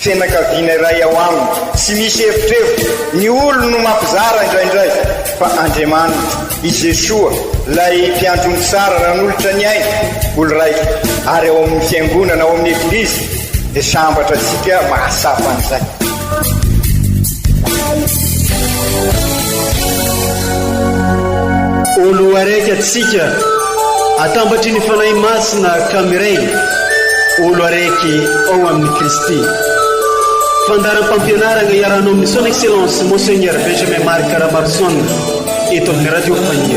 Fianakaviana iray ao aminy. Tsy misy evitrevitra, ny olony no mampizara indraindray, fa Andriamaniny, i Jesoa, ilay Mpiandry ny tsara nanolotra ny ainy, olon-raiko, ary ao amin'ny Fiangonana, ao amin'ny Eglizy, dia sambatra antsika mahatsapa an'izay. Oloaraiky atsika atambatry ny Fanahy Masina ka miray olo araiky ao amin'i Kristy. Fandaharam-pampianarana iarahanao amin'ny Son Excellence Monseigneur Benjamin Marc Ramarison eto amin'ny Radio Fahiny.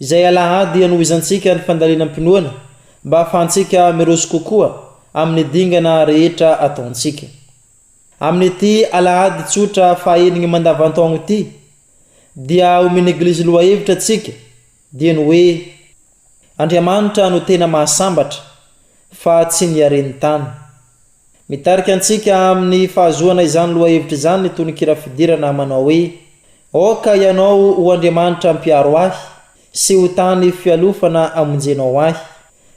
Izay Alahady hanohizantsika ny fandalinam-pinoana mba hahafahantsika miroso kokoa amin'ny dingana rehetra ataontsika. Amin'ity Alahady tsotra fahaenigny mandavantaogno ity, dia omen'ny Eglizy lohahevitra antsika, dieny hoe Andriamanitra no tena mahasambatra, fa tsy ny haren-tany. Mitarika antsika amin'ny fahazoana izany lohahevitra izany ny tononkira fidirana manao hoe, Aoka Ianao ho Andriamanitra mpiaro ahy, sy ho tany fialofana amonjenao ahy,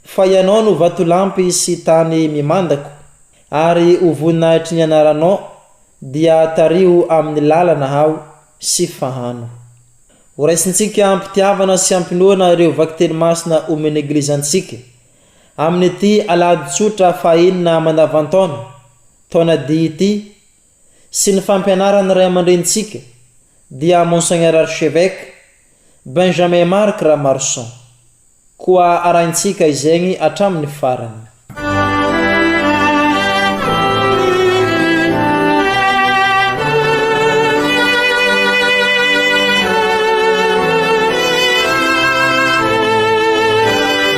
fa Ianao no vatolampy sy tany mimandako, ary ho voninahitry ny anaranao, dia tariho amin'ny lalana aho, sy fahano. Horaisintsika am-pitiavana sy am-pinoana ireo vakiteny masina omen'ny Eglizy antsika Amin'ity Alahady Tsotra fahaenina mandavan-taona, taona D ity, sy ny fampianaran'ny Ray aman-drenintsika, dia Monseigneur Archevêque Benjamin Marc Ramarson. Koa arahintsika izegny hatramin'ny farany.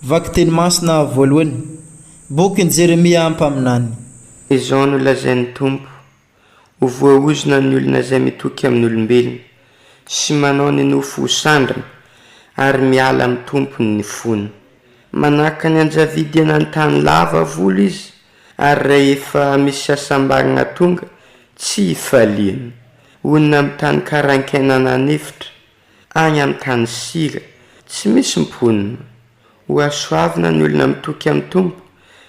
Vakiteny masina voalohany. Bokin'i Jeremia mpaminany. Izao no lazain'ny Tompo, Ho voaozona ny olona izay mitoky amin'olombelona, sy manao ny nofo ho sandrana, ary miala amin'ny tompony ny fony. Manahaka ny anjavidy eny an-tany lava volo izy, ary rehefa misy hasambarana tonga, tsy hifaliany. Honina amin'ny tany karainkaina nanefitra, Any amin'ny tany sira, tsy misy mponina. Hohasoavina ny olona mitoky amin'ny Tompo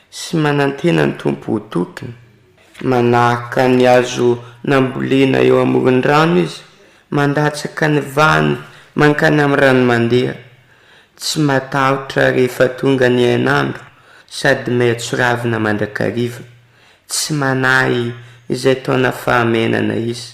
sy manantena ny Tompo ho tokiny. Manahaka ny hazo nambolena eo amoron'ny rano izy, mandatsaka ny vahiny mankany amin'ny rano mandeha. Tsy matahotra rehefa tonga ny hainandro sady maitso ravina mandrakariva. Tsy manahy izay taona fahamenana izy.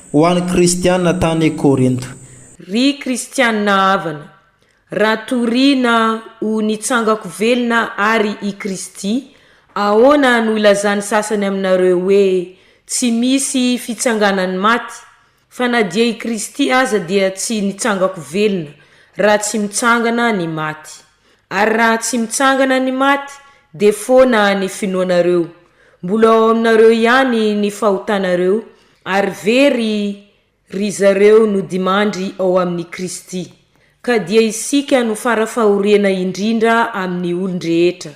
Ho an'ny Kristiana tany Korinto. Ry Kristiana havana, raha toriana ho nitsangako velona àry i Kristy, ahoana no ilazan'ny sasany aminareo hoe tsy misy fitsanganan'ny maty? Fa na dia i Kristy aza dia tsy nitsangako velona, raha tsy mitsangana ny maty. Ary raha tsy mitsangana ny maty, dia foana ny finoanareo. Mbola ao aminareo ihany ny fahotanareo, Ary very ry zareo nodimandry ao amin'i Kristy, ka dia isika no fara fahoriana indrindra amin'ny olon-drehetra,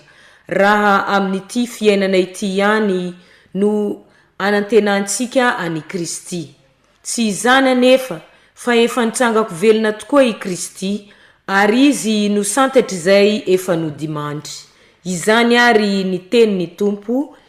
raha amin'ity fiainana ity ihany no anantenantsika an'i Kristy. Tsy izany anefa, fa efa nitrangako velona tokoa i Kristy, ary Izy no santatr'izay efa nodimandry. Izany àry ny tenin'ny Tompo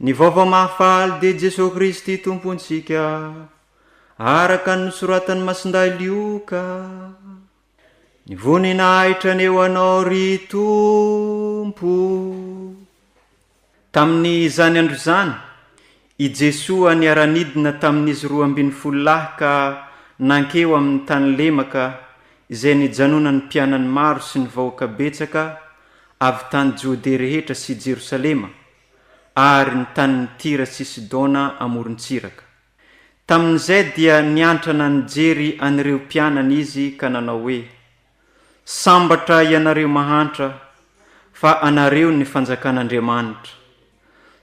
Ny vaovao mahafaly dia Jesoa Kristy Tompontsika, araka ny nosoratan'i Masindahy Lioka. Ny voninahitra anie ho Anao, ry Tompo! Tamin'izany andro izany, i Jesoa niara-nidina tamin'izy roa ambin'ny folo lahy ka nankeo amin'ny tany lemaka izay nijanonan'ny mpianany maro sy ny vahoaka betsaka avy tany Jodea rehetra sy Jerosalema, ary ny tanin'i Tyra sy Sidona amoron-tsiraka. Tamin'izay dia niantrana nijery an'ireo mpianany izy ka nanao hoe, Sambatra ianareo mahantra, fa anareo ny fanjakan'Andriamanitra.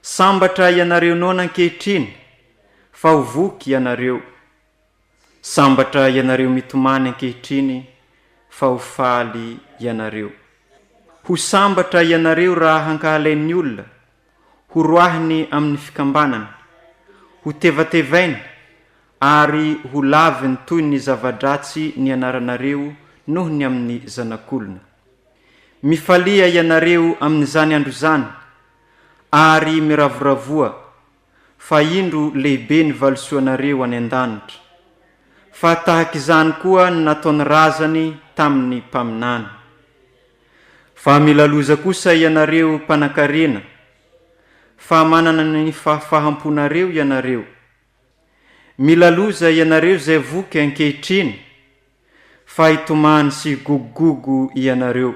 Sambatra ianareo noana ankehitriny, fa ho voky ianareo, Sambatra ianareo mitomany ankehitriny fa ho faly ianareo. Ho sambatra ianareo raha hankahalain'ny olona, ho roahiny amin'ny fikambanana, ho tevatevainy ary ho laviny toy ny zava-dratsy nianaranareo noho ny amin'ny zanak'olona. Mifalia ianareo amin'izany andro izany ary miravoravoa fa indro lehibe ny valisoanareo any an-danitra, fa tahaka izany koa ny nataon'ny razany tamin'ny mpaminany. Fa milaloza kosa ianareo mpanankarena, fa manana ny fahafaham-ponareo ianareo. Milaloza ianareo izay voky ankehitriny, fa hitomany sy higogogogo ianareo.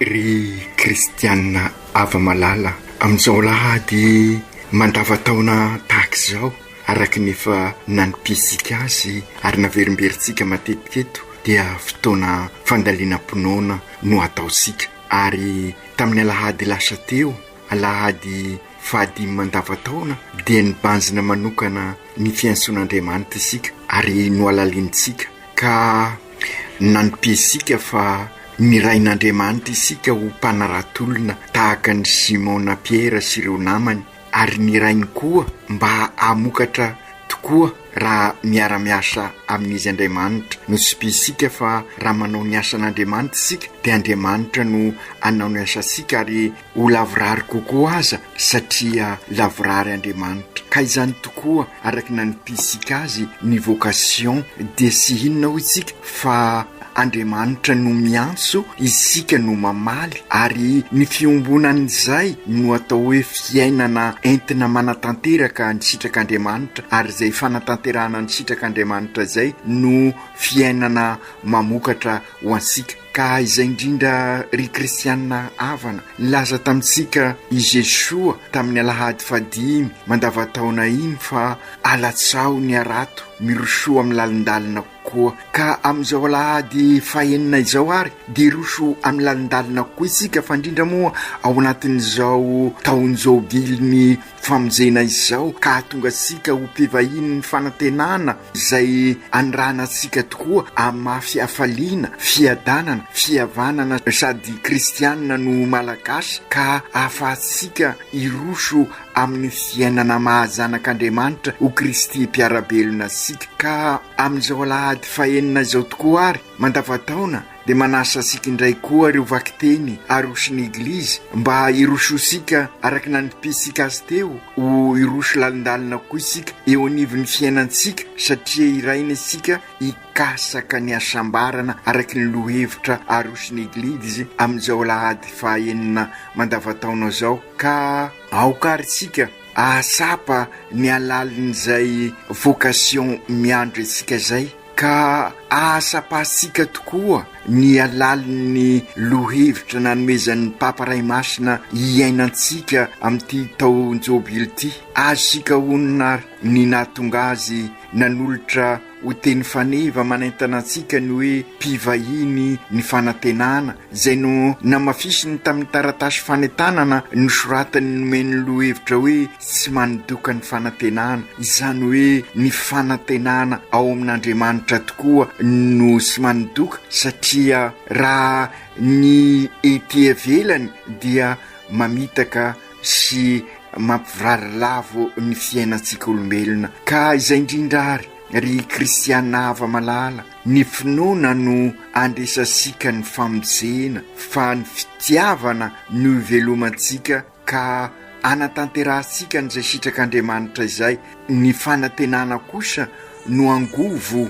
Ry kristiana hava-malala, amin'izao alahady mandavan-taona tahaka izao, araka ny efa nanipihitsika azy ary naverimberintsika matetika eto, dia fotoana fandalinam-pinoana no ataontsika. Ary tamin'ny alahady lasa teo, alahady fahadimy mandavan-taona, dia nibanjina manokana ny fiantsoan'Andriamanitra isika ary nohalalinintsika, ka Nanipesika fa nirahin'Andriamanitra isika ho mpanarato-olona tahaka an'i Simona Piera sy ireo namany, ary nirainy koa mba hamokatra tokoa raha miara-miasa amin'Izy Andriamanitra. Notsipihintsika fa raha manao ny asan'Andriamanitra isika, dia Andriamanitra no hanao ny asantsika, ary. Ho lavorary kokoa aza satria lavorary Andriamanitra. Ka izany tokoa araka ny nanipintsika azy ny vocation dia tsy inona hoy tsika fa Andriamanitra no miantso isika no mamaly ary ny fiombonan'izay no atao hoe fiainana entina manatanteraka ny sitrak'Andriamanitra ary izay fanatanterahana ny sitrak'Andriamanitra izay no fiainana mamokatra ho antsika. Ka izay indrindra ry kristianina havana, nilaza tamintsika i Jesoa tamin'ny alahady fahadimy mandavan-taona iny fa alatsaho ny harato, mirosoa amin'ny lalindalina koa. Ka amin'izao alahady fahenina izao ary dia hiroso amin'ny lalindalina koa isika, fa indrindra moa ao anatin'izao taon-jobilin'ny Famonjena izao ka hahatonga antsika ho mpivahinin'ny fanantenana izay anirahana antsika tokoa amin'ny maha fihafaliana, fiadanana, fihavanana sady kristianina no Malagasy ka ahafahantsika hiroso amin'ny fiainana maha zanak'Andriamanitra ho Kristy mpiara-belona antsika ka amin'izao alahady fahenina izao tokoa ary mandavan-taona dia manasa antsika indray koa ireo vakiteny Aroso ny Eglizy mba hirosoantsika araka ny nanipintsika azy teo ho hiroso lalindalina koa isika eo anivon'ny fiainantsika satria hiraina isika hikasaka ny hasambarana araka ny lohevitra Aroso ny Eglizy amin'izao alahady fahaenina mandavantaona izao ka aoka ary isika hahatsapa ny halalin'izay vocation miandry antsika izay. Ka ahasapahantsika tokoa ny halalin'ny lohahevitra nanomezan'ny Papa Ray Masina hiainantsika amin'ity taon-jobily ity. Azontsika honina ary ny nahatonga azy nanolotra ho teny faneva manaintana antsika ny hoe, Mpivahiny ny fanantenana izay nohamafisiny tamin'ny taratasy fanentanana nosoratany nomeny lohahevitra hoe Tsy Manidoka ny Fanantenana, izany hoe ny fanantenana ao amin'Andriamanitra tokoa no tsy manidoka satria raha ny ety ivelany dia mamitaka sy mampivarary lavo ny fiainantsika olombelona. Ka izay indrindra ary, ry kristiana hava-malala, Ny finoana no andresasika ny famonjena fa ny fitiavana no ivelomantsika ka anatanterahantsika an'izay sitrak'Andriamanitra izay, ny fanantenana kosa no angovo,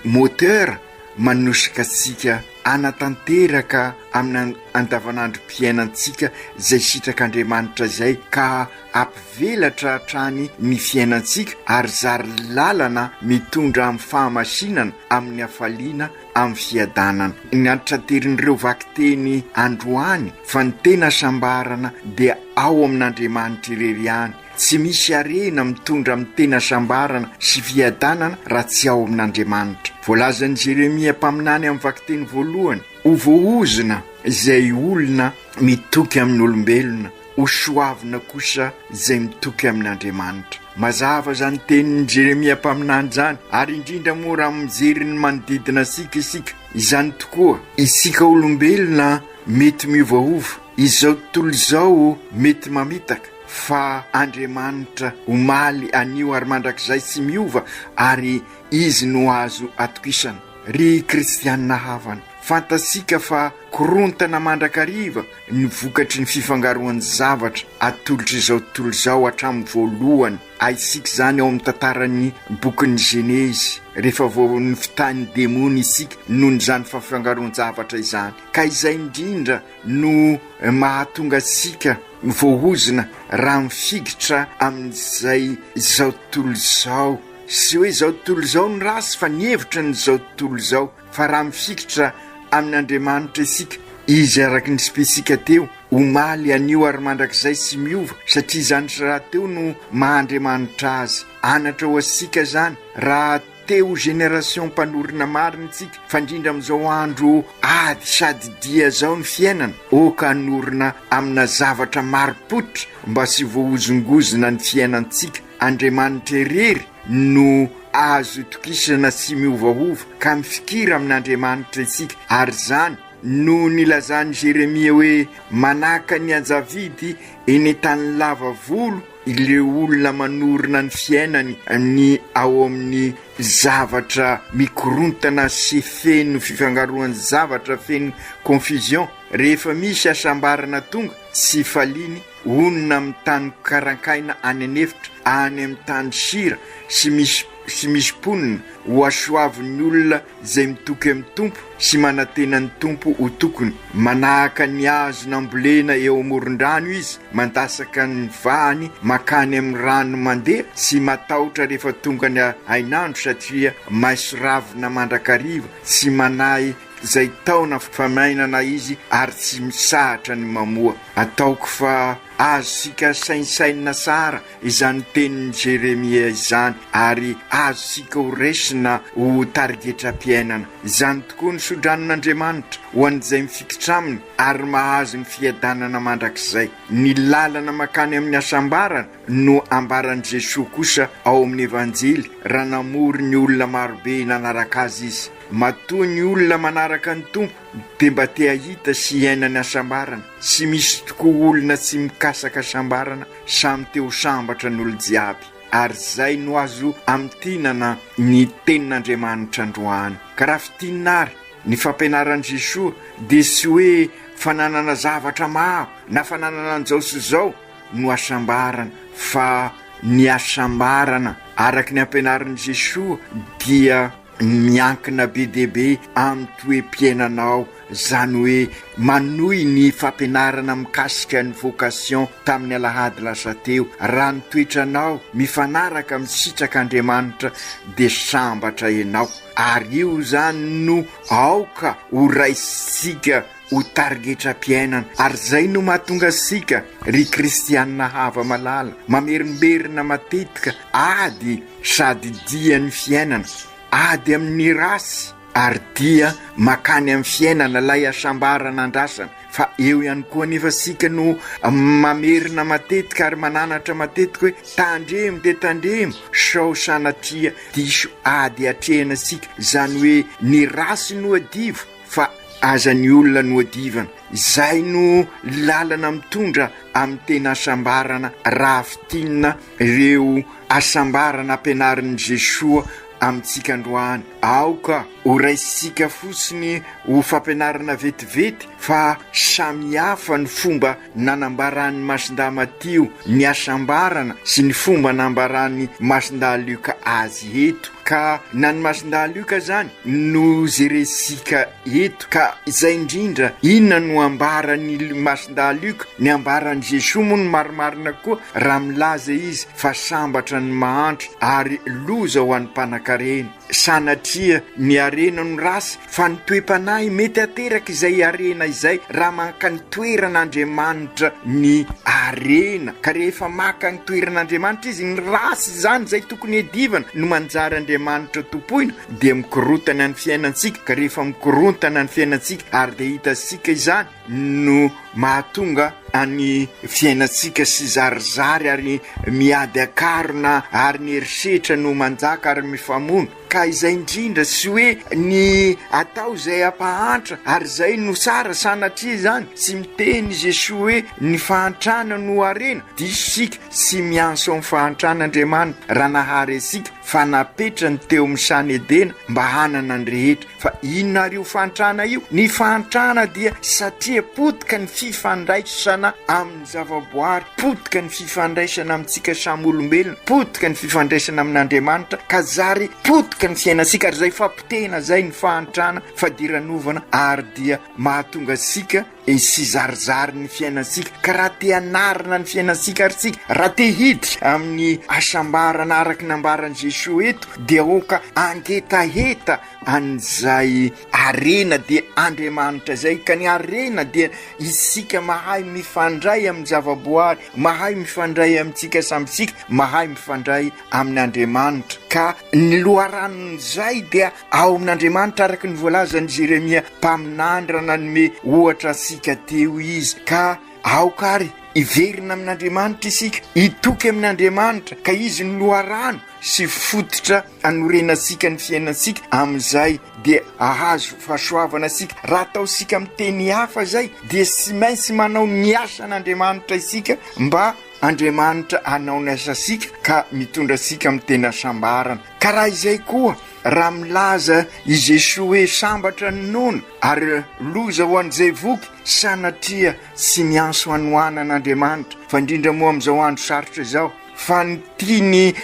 moteur, manosika antsika anatanteraka amina andavanandrom-piainantsika izay sitrak'Andriamanitra izay ka Hampivelatra hatrany ny fiainantsika ary zary lalana mitondra amin'ny fahamasinana, amin'ny hafaliana, amin'ny fiadanana. Ny antitranterin'ireo vakiteny androany fa ny tena hasambarana dia ao amin'Andriamanitra irery ihany. Tsy misy harena mitondra amin'ny tena hasambarana sy fiadanana raha tsy ao amin'Andriamanitra. Voalazan'i Jeremia mpaminany amin'ny vakiteny voalohany, Ho voahozona izay olona mitoky amin'olombelona. Ho soavina kosa izay mitoky amin'Andriamanitra. Mazava izany tenin'i Jeremia mpaminany izany, ary indrindra moa raha mijery ny manodidina antsika isika. Izany tokoa! Isika olombelona mety miovaova, izao tontolo izao mety mamitaka, fa Andriamanitra omaly, anio ary mandrakizay tsy miova, ary Izy no azo atokisana. Ry kristiana havana, fantatsika fa korontana mandrakariva ny vokatry ny fifangaroan'ny zavatra atolotr'izao tontolo izao hatramin'ny voalohany. Ahitsiaka izany ao amin'ny tantaran'ny bokin'ny Genezy, rehefa vao nofintahin'ny demony isika noho izany fafiangaroan-javatra izany. Ka izay indrindra no mahatonga antsika voahozona raha mifikitra amin'izay izao tontolo izao. Tsy hoe izao tontolo izao no ratsy fa ny hevitra ny izao tontolo izao. Fa raha mifikitra amin' Andriamanitra isika, Izy araka ny spetsika teo, omaly, anio ary mandrakizay tsy miova, satria izany sy rahateo no maha Andriamanitra Azy. Anatra ho asika izany, raha te ho génération mpanorina marina isika, fa indrindra amin'izao andro ady sady dia izao ny fiainana, ok hanorina amina zavatra marim-pototra mba tsy voahozongozona ny fiainantsika. Andriamanitra irery no azo itokisana sy miovaova, ka mifikira amin'Andriamanitra isika, ary izany no nilazan'i Jeremia hoe, Manahaka ny ajavidy eny an-tany lava volo ireo olona manorina ny fiainany ny ao amin'ny zavatra mikorontana sy feno fifangaroan'ny zavatra feno confusion, rehefa misy hasambarana tonga tsy faliany, Honina amin'ny tany karankaina any an'efitra, any amin'ny tany sira sy misy sy misy mponina, hohasoavin'ny olona izay mitoky amin'ny Tompo sy manantena ny Tompo ho tokony. Manahaka ny hazo nambolena eo amoron-drano izy, mandasaka ny vahany mankany amin'ny rano mandeha sy matahotra rehefa tonga ny hainandro satria maiso ravina mandrakariva tsy manahy Zay taona famainana izy ary tsy misahatra ny mamoa. Ataoko fa azontsika saintsainina tsara izany tenin'i Jeremia izany ary azontsika ho raisina ho tarigetram-piainana. Izany tokoa ny sodranon'Andriamanitra ho an'izay mifikitra aminy ary mahazo ny fiadanana mandrakizay. Ny lalana mankany amin'ny hasambarana no ambaran'i Jesoa kosa ao amin'ny Evanjely raha namory ny olona marobe nanaraka Azy Izy. Matoa ny olona manaraka ny Tompo dia mba te hahita sy hiaina ny hasambarana, tsy misy tokoa olona tsy mikasaka hasambarana, samy te ho sambatra ny olon-jiaby, ary izay no azo amintinana ny tenin'Andriamanitra androany. Ka raha fintinina ary ny fampianaran'i Jesoa dia tsy hoe fananana zavatra maro na fananana an'izao sy izao no hasambarana fa ny hasambarana araka ny ampianarin'i Jesoa dia Miankina be dia be amin'ny toe-piainanao, izany hoe manohy ny fampianarana mikasika ny vocation tamin'ny alahady lasa teo. Raha ny toetranao mifanaraka amin'ny sitrak'Andriamanitra dia sambatra ianao, ary io izany no aoka horaisintsika ho tarigetram-piainana. Ary izay no mahatonga antsika, ry kristianina hava-malala, mamerimberina matetika ady sady dia ny fiainana, ady amin'ny ratsy ary dia makany amin'ny fiainana ilay hasambarana andrasana. Fa eo ihany koa anefa isika no mamerina matetika ary mananatra matetika hoe, tandremo dia tandremo sao sanatria diso ady atrehina isika, izany hoe ny ratsy nohadivo, fa aza ny olona no adivana, izay no lalana mitondra amin'ny tena hasambarana raha fintinina ireo hasambarana ampianarin'i Jesoa amintsika androany. Aoka ho raisintsika fotsiny ho fampianarana vetivety fa samy hafa ny fomba Nanambaran'ny Masindahy Matio ny hasambarana sy ny fomba nambaran'ny Masindahy Lioka azy eto, ka na ny Masindahy Lioka izany no jerentsika eto. Ka izay indrindra, inona no ambaran'ny Masindahy Lioka? Ny ambaran'i Jesoa moa no marimarina koa raha milaza izy fa sambatra ny mahantra ary loza ho an'ny mpanankarena. Sanatria ny harena no ratsy fa ny toe-panahy mety hateraka izay harena izay raha maka ny toeran'Andriamanitra ny harena ka rehefa maka ny toeran'Andriamanitra izy ny ratsy izany izay tokony hiadivana no manjary Andriamanitra tompoina dia mikorontana ny fiainantsika ka rehefa mikorontana ny fiainantsika ary dia hitantsika izany no mahatonga an'ny fiainantsika sy zarizary ary miady an-karona ary ny herisetra no manjaka ary mifamono ka izay indrindra sy hoe ny atao izay hampahantra ary izay no tsara sanatria izany tsy miteny izy esoa hoe ny fahantrana no harena diso isika sy mianso amin'ny fahantran'Andriamanitra raha nahary antsika fa napetrany teo amin'ny sany Edena mba hanana ny rehetra, fa inona ary io fahantrana io? Ny fahantrana dia satria potika ny fifandraisana amin'ny zavaboary, potika ny fifandraisana amintsika samy olombelona, potika ny fifandraisana amin'Andriamanitra ka zary potika ny fiainantsika ary izay fapotehina izay ny fahantrana, fadiranovana ary dia mahatonga antsika Hizarizary ny fiainantsika ka raha te hanarina ny fiainantsika ary tsika, raha te hiditra amin'ny hasambarana araka ny nambaran'i Jesoa eto dia aoka hangetaheta an'izay harena dia Andriamanitra izay, ka ny harena dia isika mahay mifandray amin'ny zavaboary, mahay mifandray amintsika samy tsika, mahay mifandray amin'Andriamanitra ka ny loharanon'izay dia Ao amin'Andriamanitra, araka ny voalazan'i Jeremia mpaminanydra nanome ohatra antsika teo izy, ka aoka ary hiverina amin'Andriamanitra isika, hitoky amin'Andriamanitra, ka izy no loharano sy fototra anorenantsika ny fiainantsika, amin'izay dia ahazo fahasoavana isika. Raha ataontsika amin'ny teny hafa izay, dia tsy maintsy manao ny asan'Andriamanitra isika mba Andriamanitra hanao ny asantsika ka mitondra antsika amin'ny tena hasambarana. Ka raha izay koa, raha milaza i Jesoa hoe sambatra ny nono ary loza ho an'izay voky, sanatria tsy mianso hanohanana Andriamanitra, fa indrindra moa amin'izao andro sarotra izao, fa ny tian'i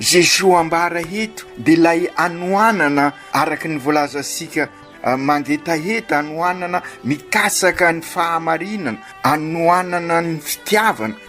Jesoa ambara eto dia ilay hanohanana araka ny voalazantsika mangetaheta, hanohanana mikatsaka ny fahamarinana, hanohanana ny fitiavana.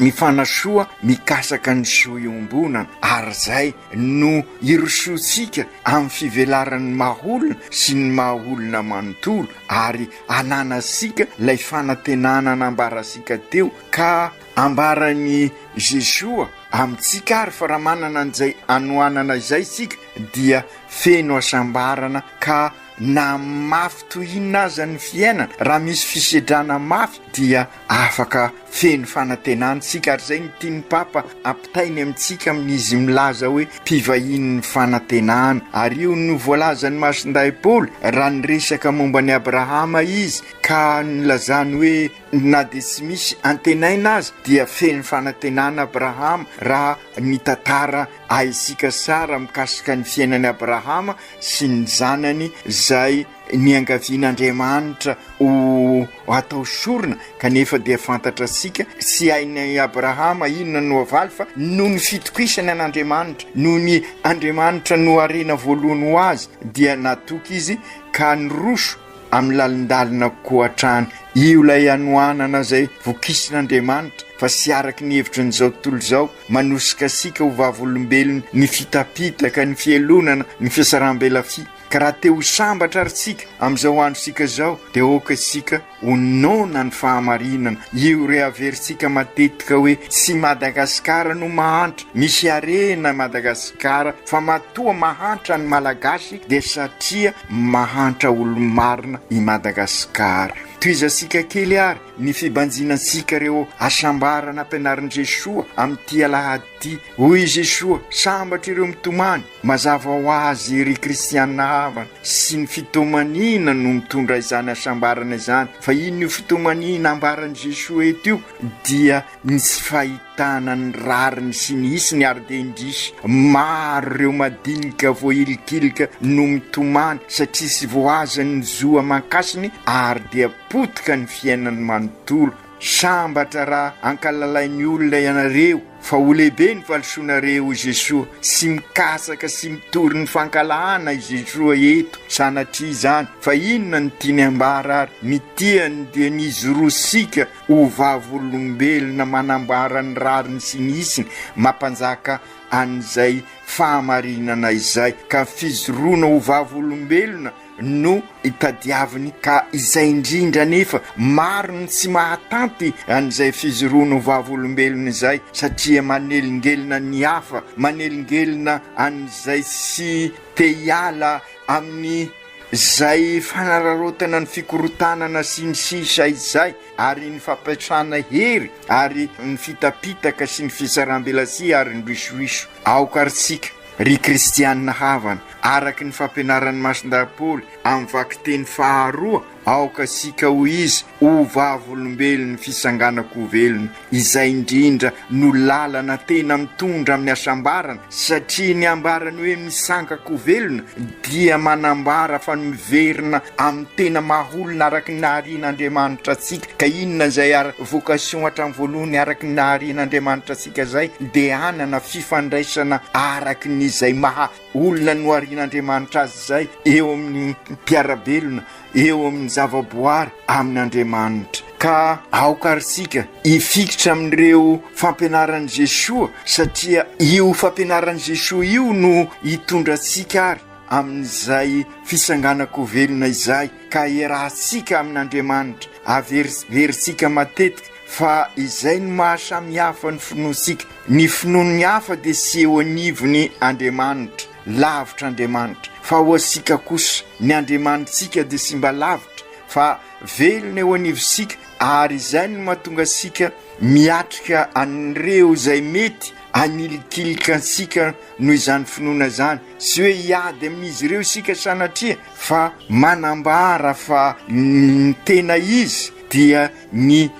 Mifanasoa mikasaka ny zo iombonana ary izay no irosoantsika amin'ny fivelaran'ny maha olona sy ny maha olona manontolo ary ananantsika ilay fanantenana nambarantsika teo ka ambaran'i Jesoa amintsika ary fa raha manana an'izay anohanana izay isika dia feno hasambarana ka na mafy toy inona aza ny fiainana raha misy fisedrana mafy dia Afaka feno fanantenana isika ary izay no tian'ny Papa hampitainy amintsika amin'izy milaza hoe mpivahinin'ny fanantenana. Ary io no voalazan'ny Masindahy Paoly raha niresaka momba an'i Abrahama izy ka nilazany hoe na dia tsy misy antenaina aza dia feno fanantenana Abrahama raha ny tantara ahinsika sara mikasika ny fiainan'i Abrahama sy ny zanany izay niangavian'Andriamanitra ho atao sorona kanefa dia fantatra sika sy hain'i Abrahama inona no havaly fa noho ny fitokisany an'Andriamanitra noho ny Andriamanitra no harena voalohany ho azy dia natoky izy ka niroso amin'ny lalindalina koatrany io ilay hanohanana izay vokisin'Andriamanitra fa sy araky ny hevitry ny izao tontolo izao manosika sika ho vavolombelony ny fitapitaka ny fielonana ny fisaram-belafia Ka raha te ho sambatra ary tsika amin'izao androntsika izao dia aoka isika ho noana ny fahamarinana, io rehaverintsika matetika hoe tsy Madagasikara no mahantra, misy harena Madagasikara fa matoa mahantra ny Malagasy dia satria mahantra olo-marina i Madagasikara. Tohizantsika kely ary ny fibanjina antsika ireo hasambarana ampianarin'i Jesoa amin'ity alahady ity, hoy i Jesoa, sambatra ireo mitomany, Mazava ho azy, ry kristiana havana, sy ny fitomaniana no mitondra izany hasambarana izany. Fa inona io fitomaniana ambaran'i Jesoa eto io? Dia ny tsy fahitana ny rariny sy ny hisiny, ary dia indrisy maro ireo madinika voahilikilika no mitomany satria tsy voazan'ny zo aman-kasiny ary dia potika ny fiainany manontolo. Sambatra raha ankalalain'ny olona ianareo fa ho lehibe ny valisoanareo hoy Jesoa sy mikatsaka sy mitory ny fankahalana i Jesoa eto sanatria izany fa inona no tiany ambara ary ny tiany dia ny izy roa sika ho vavolombelona manambara ny rariny sy ny isiny mampanjaka an'izay fahamarinana izay ka fizoroana ho vavolombelona no itadiaviny ka izay indrindra anefa maro ny tsy mahatanty an'izay fijoroana ho vavolombelona izay satria manelingelina ny hafa, manelingelina an'izay tsy te hiala amin'izay fanararaotana ny fikorontanana sy ny sisa izay ary ny fampiasana hery ary ny fitapitaka sy ny fisaram-belatsihy ary ny risoiso aoka ry tsika. Ry kristiana havana, araka ny fampianaran'ny Masindahy Paoly amin'ny vakiteny faharoa, aoka isika ho izy ho vavolombelon'ny fisanganan-ko velona, izay indrindra no lalana tena mitondra amin'ny hasambarana, satria ny ambarany hoe misangan-ko velona dia manambara fa miverina amin'ny tena maha-olona araka ny naharian'Andriamanitra antsika. Ka inona izay vocation hatramin'ny voalohany araka ny naharian'Andriamanitra antsika? Katolika izay dia hanana fifandraisana araka ny izay maha olona noharian'Andriamanitra azy izay eo amin'ny mpiara-belona, eo amin'ny zava-boary amin'Andriamanitra. Ka aoka ary isika hifikitra amin'ireo fampianaran'i Jesoa, satria io fampianaran'i Jesoa io no hitondra antsika ary amin'izay fisanganan-ko velona izay, ka hiarahantsika amin'Andriamanitra, haveriverintsika matetika, Fa izay no maha samy hafa ny finoantsika, ny finoan'ny hafa dia tsy eo anivon'ny Andriamanitra, lavitra Andriamanitra, fa ho antsika kosa, ny Andriamanitsika dia tsy mba lavitra fa velona eo anivontsika ary izay no mahatonga antsika miatrika an'ireo izay mety hanilikilika antsika noho izany finoana izany, tsy hoe hiady amin'izy ireo isika sanatria fa manambara fa ny tena izy dia ny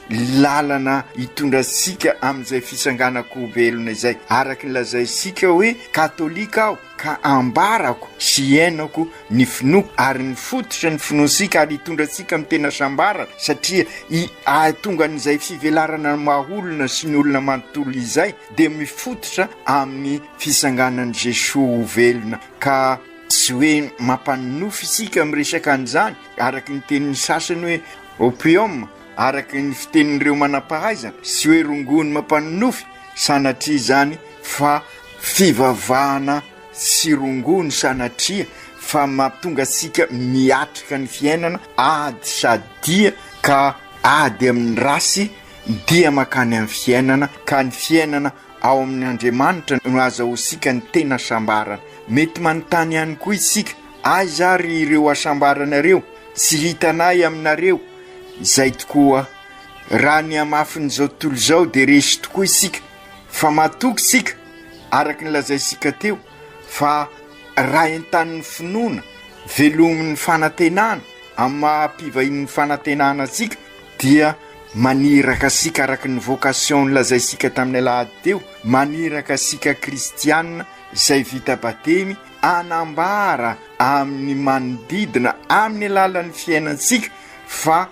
lalana hitondra antsika amin'izay fitsanganan-ko velona izay, araka ny lazaintsika hoe katolika aho ka ambarako sy henoko ny finoako ary ny fototra ny finoantsika ary hitondra antsika amin'ny tena hasambarana satria i ahatongan'izay fivelarana ny maha olona sy ny olona manontolo izay dia mifototra amin'ny fitsanganan'i Jesoa ho velona ka tsy hoe mampanonofy isika miresaka an'izany araka ny tenin'ny sasany hoe Opium, araka ny fitenin'ireo manam-pahaizana sy hoe rongony mampanonofy, sanatria izany fa fivavahana sy rongony sanatria fa mahatonga antsika miatrika ny fiainana ady sady dia ka ady amin'ny race dia mankany amin'ny fiainana ka ny fiainana ao amin'ny Andriamanitra no azahoantsika ny tena sambarana. Mety manontany ihany koa isika Aiza ary ireo hasambaranareo? Tsy hitanay aminareo izay tokoa. Raha ny hamafin'izao tontolo izao dia resy tokoa isika fa matoky isika araka ny lazaintsika teo fa raha entanin'ny finoana, velomin'ny fanantenana amin'ny maha-mpivahin'ny fanantenana antsika dia maniraka antsika araka ny vocation nolazaintsika tamin'ny alahady teo, maniraka antsika kristiana izay vita batemy. hanambara amin'ny manodidina amin'ny alalan'ny fiainantsika fa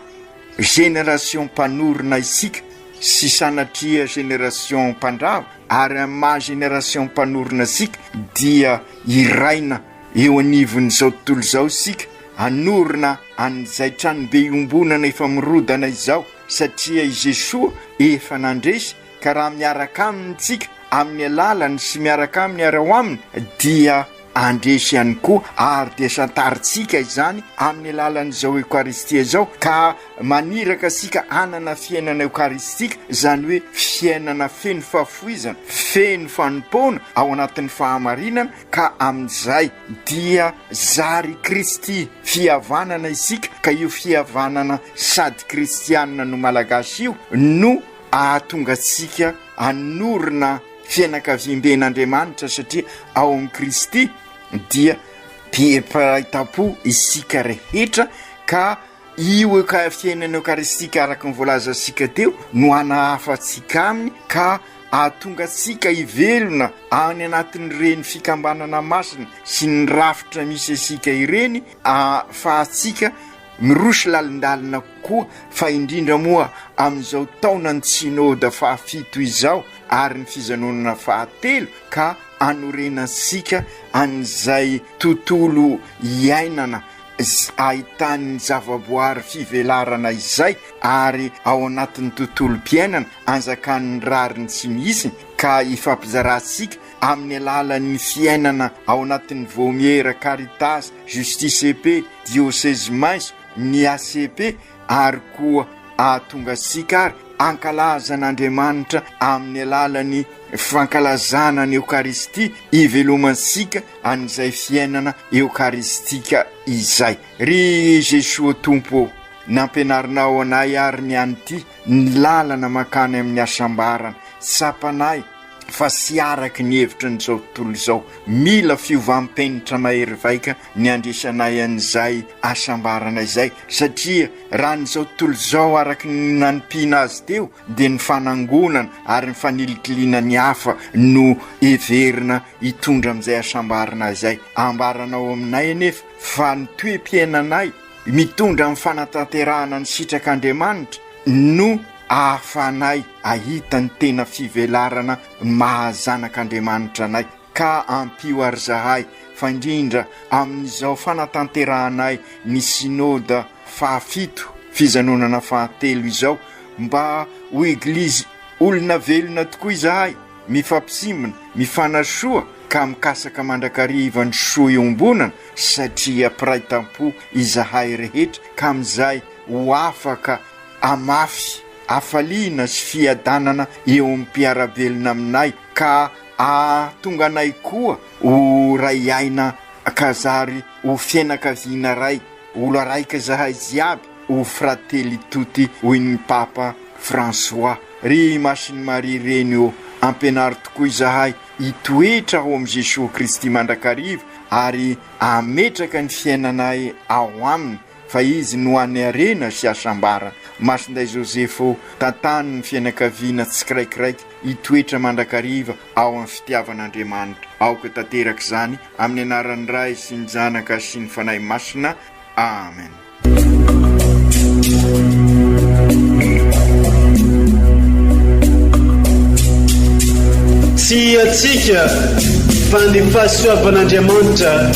génération mpanorina isika sy sanatria génération mpandrava ary amin'ny maha génération mpanorina isika dia hiraina eo anivon'izao tontolo izao isika hanorina an'izay tranobe iombonana efa mirodana izao satria i Jesoa efa nandresy Ka raha miaraka Aminy isika amin'ny alalany sy miaraka Aminy ary ao Aminy, dia handresy ihany koa ary dia santarintsika izany amin'ny alalan'izao Eokaristia izao, ka maniraka isika hanana fiainana eokaristika, izany hoe fiainana feno fahafoizana, feno fanompoana ao anatin'ny fahamarinana, ka amin'izay dia zary i Kristy, fihavanana isika, ka io fihavanana sady kristianina no Malagasy io no hahatonga antsika hanorina fianakaviamben'Andriamanitra satria ao amin'i Kristy dia mpiray tampo isika rehetra ka io eka fiainana eokaristika araka ny voalazantsika teo no hanahafa antsika aminy ka hahatonga antsika hivelona any anatin'ireny fikambanana masina sy ny rafitra misy antsika ireny ahafahantsika Miroso lalindalina kokoa, fa indrindra moa amin'izao taonan'ny Synode fahafito izao ary ny fijanonana fahatelo ka hanorenantsika an'izay tontolo iainana ahitan'ny zavaboary fivelarana izay ary ao anatin'ny tontolom-piainana anjakan'ny rariny tsy misy ka ifampizarantsika Amin'ny alalan'ny fiainana ao anatin'ny Vaomiera Caritas Justice et Paix Diocèse Maiso ny ACP ary koa ahatonga antsika ary hankalaza an'Andriamanitra amin'ny alalan'ny fankalazana ny Eokaristia hivelomantsika an'izay fiainana Eokaristika izay. Ry Jesoa ô Tompo ô, nampianarinao anay ary ny an'ity ny lalana mankany amin'ny hasambarana, tsapanay fa tsy araka ny hevitry ny izao tontolo izao. Mila fiovam-penitra mahery vaika ny handraisanay an'izay hasambarana izay, satria raha ny izao tontolo izao araka ny nanompiana azy teo dia ny fanangonana ary ny fanilikiliana ny hafa no heverina hitondra amin'izay hasambarana izay. Ambaranao aminay anefa fa ny toe-piainanay mitondra amin'ny fanatanterahana ny sitrak'Andriamanitra no ahafahanay Ahita ny tena fivelarana ny maha zanak'Andriamanitra anay, ka ampio àry izahay, fa indrindra amin'izao fanatanterahanay ny Synoda fahafito, fijanonana fahatelo, izao, mba ho Eglizy olona velona tokoa izahay, mifampitsimbina, mifanasoa, ka mikasaka mandrakariva ny soa iombonana, satria mpiray tam-po izahay rehetra, ka amin'izay ho afaka hamafy. hafaliana sy fiadanana eo amin'ny mpiara-belona aminay ka hahatonga anay koa ho ray aina ka zary ho fianakaviana iray, olo araiky zahay jiaby o fratelli tutti hoy ny Papa François. Ry Masin'i Maria reny ô, ampianaro tokoa izahay hitoetra ao amin'i Jesoa Kristy mandrakariva ary hametraka ny fiainanay ao Aminy, fa izy no hanerena sy hasambara masinday Joseph ô tantano ny fianakaviana tsikiraikiraiky hitoetra mandrakariva ao amin'ny fitiavan'Andriamanitra aoka tanteraka izany amin'ny anaran'ny Ray sy ny Zanaka sy ny Fanahy Masina Amen. Tsy hiatsika fa ny fahasoavan'Andriamanitra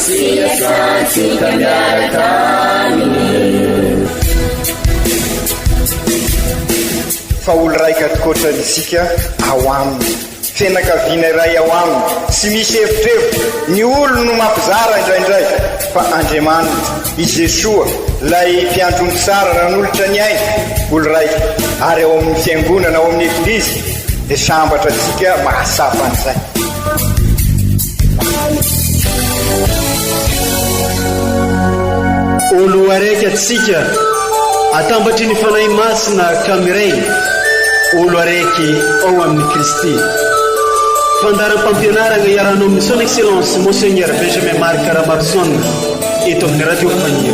Sitratsika miaraka aminy. Fa olo-raika ankoatra antsika ao aminy. Fianakaviana iray ao aminy. Tsy misy hevitrevitra. Ny olony no mampizara indraindray. Fa Andriamaniny, i Jesoa, ilay Mpiandry omby tsara nanolotra ny ainy, olo-raika, ary ao amin'ny Fiangonana, ao amin'ny Eglizy, dia sambatra antsika mahatsapa an'izay. Oloaraiky atsika, atambatry ny Fanahy Masina ka miray, oloaraiky ao amin'i Kristy. Fandaharam-pampianarana iarahanao amin'ny Son Excellence Monseigneur Benjamin Marc Ramarson eto amin'ny Radio Faniry.